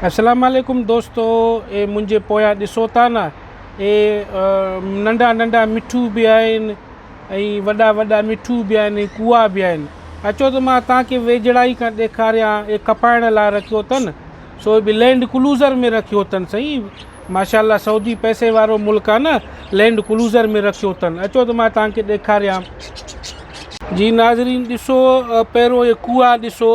اسلام عليڪم دوستو اي منهنجي پويان ڏسو ٿا نه اي ننڍا ننڍا مٺو به آهن ۽ وڏا وڏا مٺو به آهن ۽ ڪوئا به آهن اچو ته مان تان کي ويجهڙائي کان ڏيکاريان اي کپائڻ لاء رکيو اٿن سو اي به لينڊ ڪلوزر ۾ رکيو اٿن سائين ماشاء الله سعودي پئسي وارو ملڪ آ نه لينڊ ڪلوزر ۾ رکيو اٿن اچو ته مان تان کي ڏيکاريان جي ناظرين ڏسو پهريون اي ڪوئا ڏسو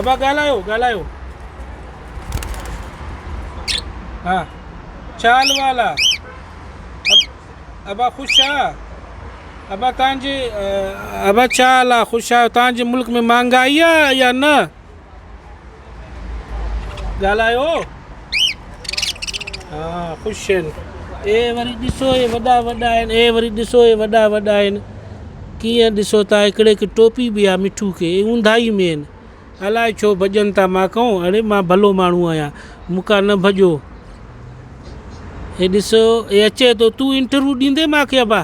ابا ڳالهايو ڳالهايو ها ڇا حال وحال آ ابا خوش آ ابا تان جي ابا ڇا حال آ خوش آهيو تان جي ملڪ ۾ مهانگائي آ يا نه ڳالهايو ها خوش آهن اي وري ڏسو اي وڏا وڏا آهن اي وري ڏسو اي وڏا وڏا آهن ڪيئن ڏسو تان هڪڙي کي ٽوپي به آ مٺو کي اي اونداهي ۾ آهن الائي ڇو ڀڄن ٿا مان ڪون اڙي مان ڀلو ماڻهو آهيان مون کان نه ڀڄو اي ڏسو اي اچي ٿو تون انٽرويو ڏيندي مانکي ابا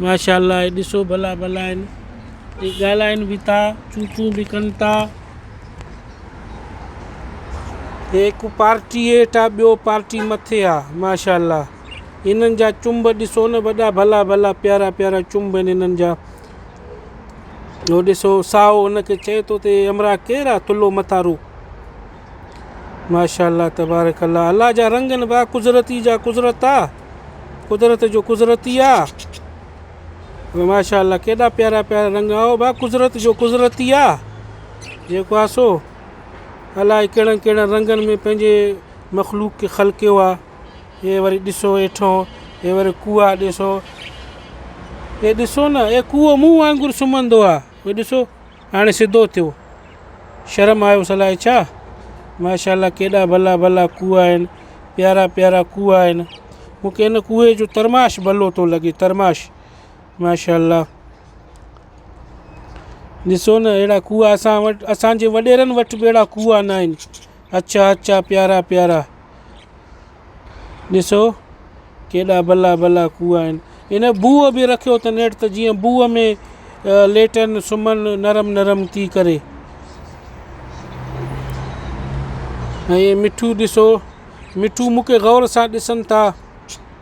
ماشاءالله هي ڏسو ڀلا ڀلا آهن هي ڳالهائن به ٿا چون چون به ڪن ٿا هڪ پارٽي هيٺ آ ٻيو پارٽي مٿي آ ماشاءالله انهن جا چنب ڏسو نه وڏا ڀلا ڀلا پيارا پيارا چنب آهن انهن جا هو ڏسو سائو هن کي چئي ٿو ته همراهه ڪير آ ٿلهو مٿارو ماشاء الله تبارڪ الله الله جا رنگ آهن ڀاء قدرتي جا قدرت آ قدرت جو قدرتي آ ماشاء الله ڪيڏا پيارا پيارا رنگ آ او ڀاء قدرت جو قدرتي آ جيڪو آ سو الائي ڪهڙن ڪهڙن رنگن ۾ پنهنجي مخلوق کي خلقيو آ هي وري ڏسو ويٺو هي وري ڪوئا ڏسو هي ڏسو نه هي ڪوئو مون وانگر سمهندو آ هي ڏسو هاڻي سڌو ٿيو. شرم آيس الائي ڇا؟ ماشاء الله ڪيڏا ڀلا ڀلا ڪوئا آهن. پيارا پيارا ڪوئا آهن. مون کي ان ڪوئي جو ترماش ڀلو ٿو لڳي ترماش ماشاء الله. ڏسو نه اهڙا ڪوئا اسان وٽ اسان جي وڏيرن وٽ به اهڙا ڪوئا نه آهن. اچا اچا پيارا پيارا ڏسو ڪيڏا بلا بلا ڪوئا آهن ان بوء به رکيو اٿن نيٺ ته جيئن بوء ۾ ليٽن سمهن نرم نرم ٿي ڪري ۽ مٺو ڏسو مٺو مون کي غور سان ڏسن ٿا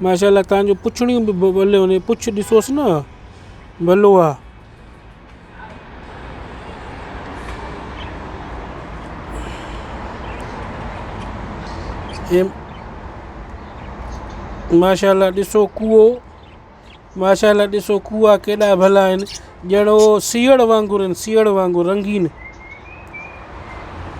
ماشاء الله تان جون پڇڙيون به ڀليون آهن پڇ ڏسوس نه ڀلو آ. ماشاء الله ڏسو ڪوئو ماشاء الله ڏسو ڪوئا ڪيڏا ڀلا آهن ڄڻ هو سيئڙ وانگر آهن سيئڙ وانگر رنگين.